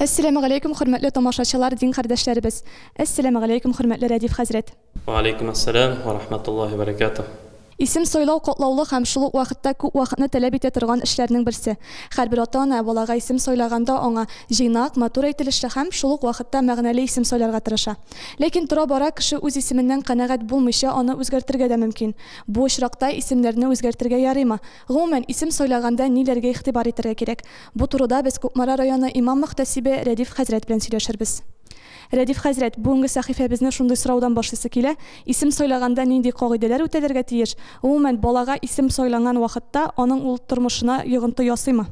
Әссәләмегаләйкүм хөрмәтле тамашачылар дин кардәшләребез! Әссәләмегаләйкүм хөрмәтле Рәдиф хәзрәт! Вәгаләйкүм әссәләм вә рахмәтуллаһи вә бәрәкәтүһ! Исем сайлау катлаулы һәм шул ук вакытта күп вакытны тәләп итә торган эшләрнең берсе. Хәрбер ата-ана балага исем сайлаганда аңа җыйнак, матур әйтелешле һәм шул ук вакытта мәгънәле исем сайларга тырыша. Ләкин тора-бара кеше үз исеменнән канәгать булмыйча аны үзгәртергә дә мөмкин. Бу очракта исемнәрне үзгәртергә ярыймы? Гомумән, исем сайлаганда ниләргә игътибар итәргә кирәк? Бу турыда без Кукмара районы имам-мөхтәсибе Рәдиф хәзрәт белән сөйләшербез. Рәдиф хәзрәт, бүгенге сәхифәбезне шундый сораудан башлыйсы килә, исем сайлаганда нинди кагыйдәләр үтәлергә тиеш? Гомумән, балага исем сайланган вакытта аның ул тормышына йогынты ясыймы?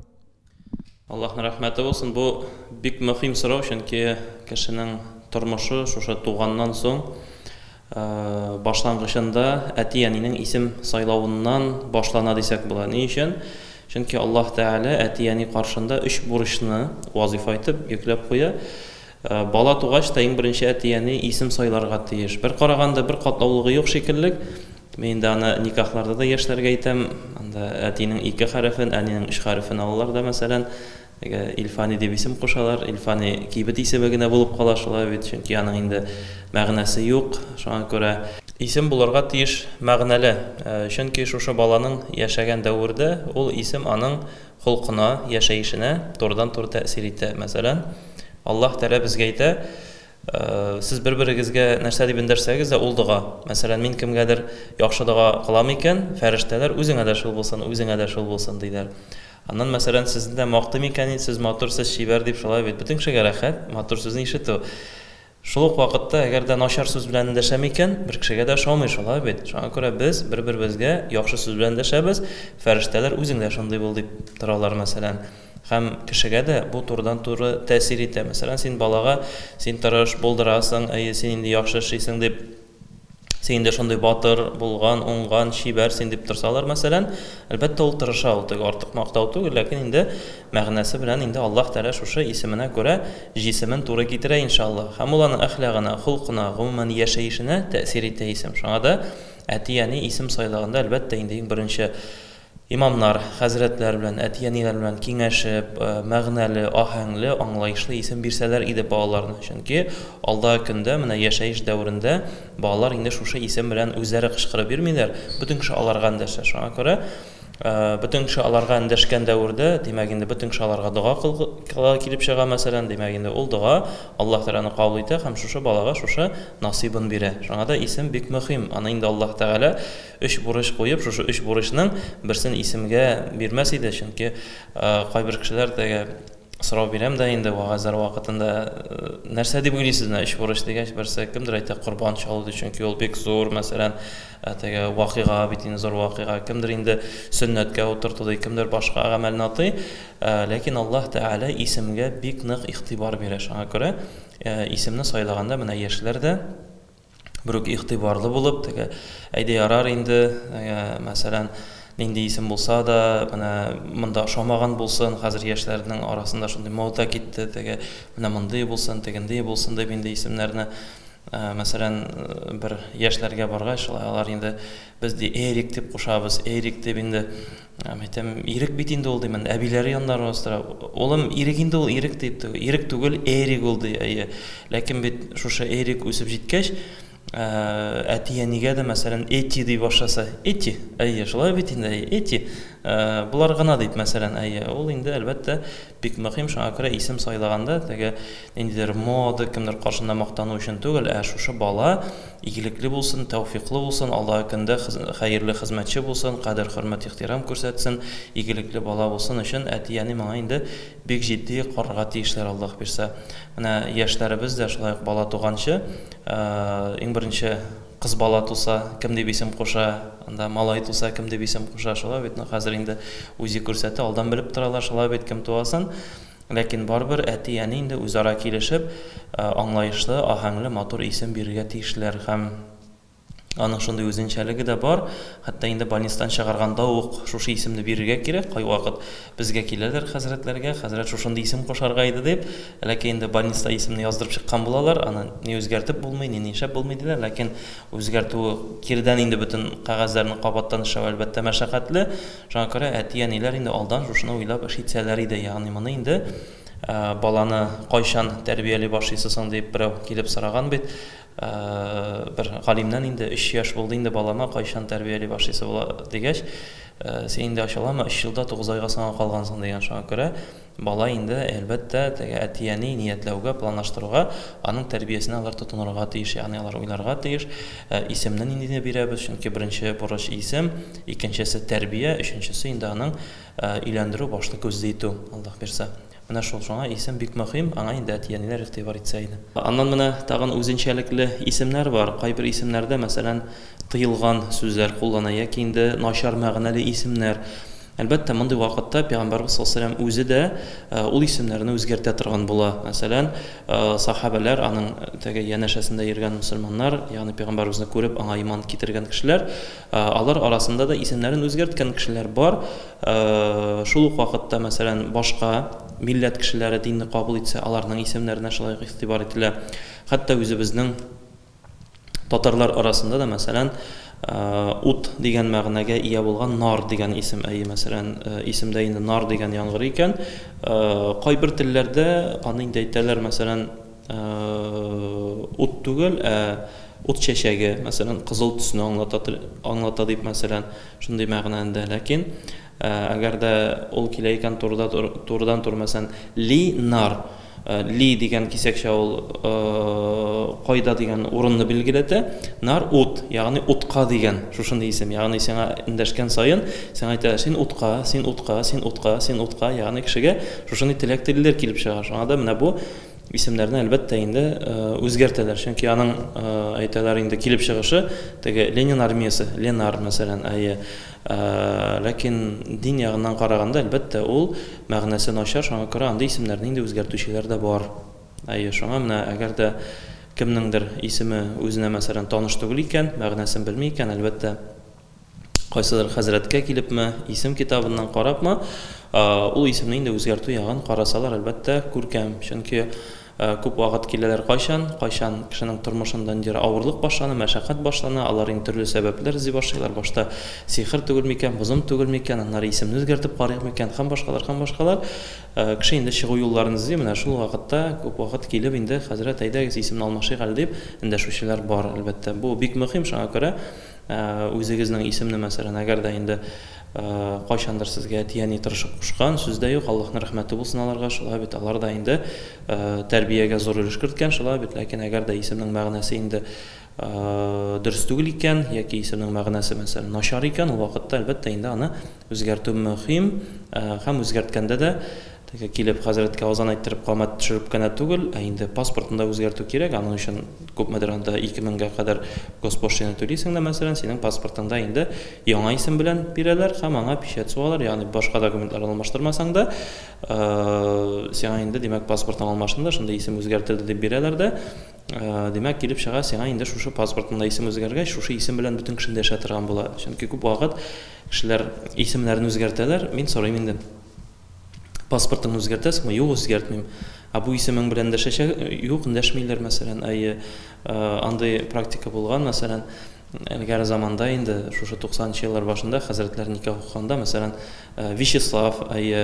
Аллаһның рәхмәте булсын, бу бик мөхим сорау, чөнки кешенең тормышы шушы туганнан соң башлангычында әти-әнинең исем сайлавыннан башлана дисәк була. Ни өчен? Чөнки Аллаһ Тәгалә әти-әни каршында өч бурычны вазифа итеп йөкләп куя. Бала тугач та иң беренче әти-әни исем сайларга тиеш. Бер караганда бер катлаулыгы юк шикеллек. Мин инде аны никахларда да яшьләргә әйтәм. Анда әтинең ике хәрефен, әнинең өч хәрефен алалар да, мәсәлән, теге Илфани дип исем кушалар. Илфани кибет исеме генә булып кала шулай бит, чөнки аның инде мәгънәсе юк. Шуңа күрә исем булырга тиеш мәгънәле, чөнки шушы баланың яшәгән дәвердә ул исем аның холкына, яшәешенә турыдан-туры тәэсир итә. Мәсәлән, Аллаһ Тәгалә безгә әйтә, Сез бер-берегезгә нәрсә дип эндәшсәгез дә, ул дога. Мәсәлән, мин кемгәдер яхшы дога кылам икән, фәрештәләр, Үзеңә дә шул булсын, үзеңә дә шул булсын, диләр. Аннан, мәсәлән, сезне дә мактыйм икән, Сез матур, сез чибәр, дип, шулай бит. Бөтен кешегә рәхәт, матур сүзне ишетү. Шул ук вакытта, әгәр дә начар сүз белән эндәшәм икән, бер кешегә дә ошамый, шулай бит? Шуңа күрә без бер-беребезгә яхшы сүз белән эндәшәбез, Фәрештәләр, үзең дә шундый бул, дип торалар, мәсәлән. Һәм кешегә дә бу турыдан-туры тәэсир итә. Мәсәлән, син балага, Син тырыш, булдырасың, әйе, син инде яхшы эшлисең, дип. Син инде шундый батыр, булган, уңган, чибәр син дип торсалар, мәсәлән, әлбәттә, ул тырыша, ул теге артык мактау түгел, ләкин инде мәгънәсе белән инде Аллаһ Тәгалә шушы исеменә күрә җисемен туры китерә, иншаллаһ. Һәм ул аның әхлагына, холкына, гомумән, яшәешенә тәэсир итә исем. Шуңа да әти-әни исем сайлаганда, әлбәттә, инде иң беренче Имамнар, хәзрәтләр белән, әти-әниләр белән киңәшеп, мәгънәле, аһәңле, аңлаешлы исем бирсәләр иде балаларына, чөнки алдагы көндә, менә яшәеш дәверендә балалар инде шушы исем белән үзләре кычкырып йөрмиләр, бөтен кеше аларга эндәшә. Шуңа күрә бөтен кеше аларга эндәшкән дәвердә, димәк, инде бөтен кеше аларга дога кылырга килеп чыга, мәсәлән, димәк, инде ул дога Аллаһ Тәгаләне кабул итә һәм шушы балага шушы насыйбын бирә. Шуңа да исем бик мөхим, аны инде Аллаһ Тәгалә Өч бурыч куеп, шушы өч бурычның берсен исемгә бирмәс иде, чөнки кайбер кешеләр теге сорау бирәм дә инде вәгазьләр вакытында, нәрсә дип уйлыйсыз менә өч бурыч дигәч, берсе кемдер әйтә корбан чалу ди, чөнки ул бик зур, мәсәлән, теге вакыйга бит инде зур вакыйга, кемдер инде сөннәткә утырту ди, кемдер башка гамәлне атый, ләкин Аллаһ Тәгалә исемгә бик нык игътибар бирә, шуңа күрә исемне сайлаганда менә яшьләр дә, Берүк игътибарлы булып, теге әйдә ярар инде, ә, мәсәлән, нинди исем булса да, менә монда ошамаган булсын, хәзер яшьләрнең арасында шундый мода китте, теге менә мондый булсын, тегендый булсын дип инде исемнәрне ә, мәсәлән, бер яшьләргә баргач, шулай алар инде без ди Эрик дип кушабыз, Эрик дип инде Мин әйтәм, Ирек бит инде ул, димен, әбиләре янында аралаштыра. Улым, Ирек инде ул, Ирек, дип, Ирек түгел, Эрик ул, ди, әйе. Ләкин бит шушы Эрик үсеп җиткәч, әти-әнигә дә, мәсәлән, Эти ди башласа, Эти, әйе, шулай бит инде, әйе, Эти, болар гына, дип, мәсәлән, әйе, ул инде, әлбәттә, бик мөһим, шуңа күрә исем сайлаганда, теге ниндидер мода, кемдер каршында мактану өчен түгел, ә шушы бала Игелекле булсын, тәүфиклы булсын, Аллаһы көндә хәерле хезмәтче булсын, кадер-хөрмәт ихтирам күрсәтсен, игелекле бала булсын өчен әти-әни моңа инде бик җитди карарга тиешләр Аллаһ бирсә. Менә яшьләребез дә шулай ук бала туганчы, иң беренче кыз бала туса, кем дип исем куша, анда малай туса, кем дип исем куша, шулай бит, ну хәзер инде үзе күрсәтә, алдан белеп торалар, шулай бит, кем туасын. Ләкин барыбер әти-әни инде үзара килешеп, аңлаешлы, аһәңле, матур исем бирергә тиешләр. Һәм аның шундый үзенчәлеге дә бар, хәтта инде больницадан чыгарганда ук шушы исемне бирергә кирәк, кайвакыт безгә киләләр хәзрәтләргә, хәзрәт шушындый исем кушарга иде дип, ләкин инде больницада исемне яздырып чыккан булалар, аны ни үзгәртеп булмый, ни нишләп булмый диләр, ләкин үзгәртү, кирдән инде бөтен кәгазьләрне кабаттан эшләү, әлбәттә, мәшәкатьле. Шуңа күрә әти-әниләр инде алдан шушыны уйлап эш итсәләр иде, ягъни моны инде баланы кайчан тәрбияли башлыйсы соң дип берәү килеп сораган бит бер галимнән инде, өч яшь булды инде балама, кайчан тәрбияли башлыйсы була дигәч, син инде ачыламы, өч елда тугыз айга соңа калгансың дигән, шуңа күрә Бала инде, әлбәттә, теге әти-әни ниятләүгә, планлаштыруга, аның тәрбиясенә алар тотынырга тиеш, ягъни алар уйларга тиеш, исемне ниндине бирәбез, чөнки беренче бурыч, исем, икенчесе, тәрбия, өченчесе инде аның өйләндерү, башлы күзле итү, Аллаһ бирса. Менә шул, шуңа исем бик мөһим, аңа инде әти-әниләр игътибар итсә иде. Аннан менә тагын үзенчәлекле исемнәр бар, кайбер исемнәрдә, мәсәлән, тыелган сүзләр куллана яки инде начар мәгънәле исемнәр, Әлбәттә, мондый вакытта пәйгамбәрбез саллаллаһу галәйһи ва сәлләм үзе дә ул исемнәрне үзгәртә торган була. Мәсәлән, сәхабәләр, аның теге янәшәсендә йөргән мөселманнар, ягъни пәйгамбәребезне күреп, аңа иман китергән кешеләр, алар арасында да исемнәрен үзгәрткән кешеләр бар. Шул ук вакытта, мәсәлән, башка милләт кешеләре динне кабул итсә, аларның исемнәренә шулай ук игътибар ителә. Хәтта үзебезнең Татарлар арасында да, мәсәлән, ут дигән мәгънәгә ия булган нар дигән исем, әйе, мәсәлән, исемдә инде нар дигән яңгыр икән, кайбер телләрдә аны инде әйтәләр, мәсәлән, ут түгел, ә ут чәчәге, мәсәлән, кызыл төсне аңлата, аңлата дип, мәсәлән, шундый мәгънәндә. Ләкин Әгәр дә ул килә икән турыда турыдан тур мәсән Ли нар Ли дигән кисәкчә ул кайда дигән урынны билгеләтә Нар ут ягъни утка дигән шушындый исем ягъни сиңа эндәшкән саен сиңа әйтә син утка син утка син утка син утка ягъни кешегә шушындый теләк телиләр килеп чыга шуңа да менә бу исемнәрне әлбәттә инде үзгәртәләр чөнки аның әйтәләр инде килеп чыгышы теге Ленин армиясе Ленар мәсәлән әйе Ләкин дин ягыннан караганда, әлбәттә, ул мәгънәсе начар, шуңа күрә андый исемнәрне инде үзгәртүчеләр дә бар. Әйе, шуңа менә әгәр дә кемнеңдер исеме үзенә, мәсәлән, таныш түгел икән, мәгънәсен белми икән, әлбәттә, кайсыдыр хәзрәткә килепме, исем китабыннан карапмы, ул исемне инде үзгәртү ягын карасалар, әлбәттә, күркәм. Чөнки. Күп вакыт киләләр Кайчан, кайчан кешенең тормышында ниндидер авырлык башлана, мәшәкать башлана, алар инде төрле сәбәпләр эзли башлыйлар, башта сихер түгел микән, бозым түгел микән, аннары исемне үзгәртеп карыйк микән һәм башкалар һәм башкалар. Кеше инде чыгу юлларын эзли, менә шул вакытта күп вакыт килеп инде хәзрәт, әйдәгез, исемне алмашыйк әле дип эндәшүчеләр бар, әлбәттә. Бу бик мөһим, шуңа күрә үзегезнең исемне мәсәлән, әгәр дә инде, Кайчандыр сезгә әти әни тырышып кушкан, сүз дә юк, Аллаһның рәхмәте булсын аларга, шулай бит, алар да инде тәрбиягә зур өлеш керткән, шулай бит, ләкин әгәр дә исемнең мәгънәсе инде дөрес түгел икән, яки исемнең мәгънәсе, мәсәлән, начар икән, ул вакытта, әлбәттә, инде аны үзгәртү мөһим, һәм үзгәрткәндә дә Теге килеп хәзрәткә азан әйттереп камәт төшереп кенә түгел, ә инде паспортны да үзгәртү кирәк, аның өчен күпмедер анда ике меңгә кадәр госпошлина түлисең дә, мәсәлән, синең паспортыңда инде яңа исем белән бирәләр һәм аңа печать сугалар, ягъни башка документлар алмаштырмасаң да, сиңа инде, димәк, паспортың алмашынды, шундый исем үзгәртелде дип бирәләр дә, димәк, килеп чыга, сиңа инде шушы паспортыңда исем үзгәргәч, шушы исем белән бөтен кешене дә яшәтергән була. Чөнки күп вакыт кешеләр исемнәрен үзгәртәләр, мин сорыйм инде. Паспортыңны үзгәртәсеңме? Юк, үзгәртмим. Ә бу исемең белән дәшәчә? Юк, дәшмиләр, мәсәлән. Әйе, андый практика булган, мәсәлән, элгәре заманда инде, шушы 90 нчы еллар башында хәзрәтләр никах укыганда, мәсәлән, Вячеслав, әйе,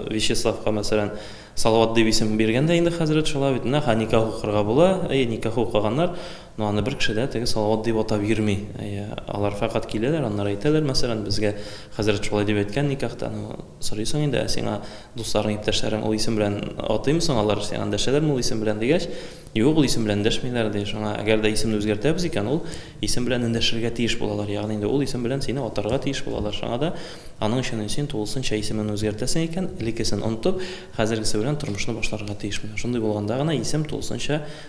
Вячеславка, мәсәлән, Салават дип исем биргән дә инде хәзрәт, шулай бит, менә, ха, никах укырга була, әйе, никах укыганнар. Но аны бер кеше дә теге Салават дип атап йөрми. Әйе, алар фәкать киләләр, аннары әйтәләр, мәсәлән, безгә хәзрәт шулай дип әйткән никахта. Ну, сорыйсың инде, ә сиңа дусларың, иптәшләрең ул исем белән атыймы соң алар, сиңа эндәшәләрме ул исем белән, дигәч, юк, ул исем белән эндәшмиләр, ди. Шуңа, әгәр дә исемне үзгәртәбез икән, ул исем белән эндәшергә тиеш булалар, ягъни инде ул исем белән сине атарга тиеш булалар. Шуңа да аның өчен син тулысынча исемеңне үзгәртәсең икән, элеккесен онытып, хәзергесе белән тормышны башларга тиеш. Менә шундый булганда гына исем тулысынча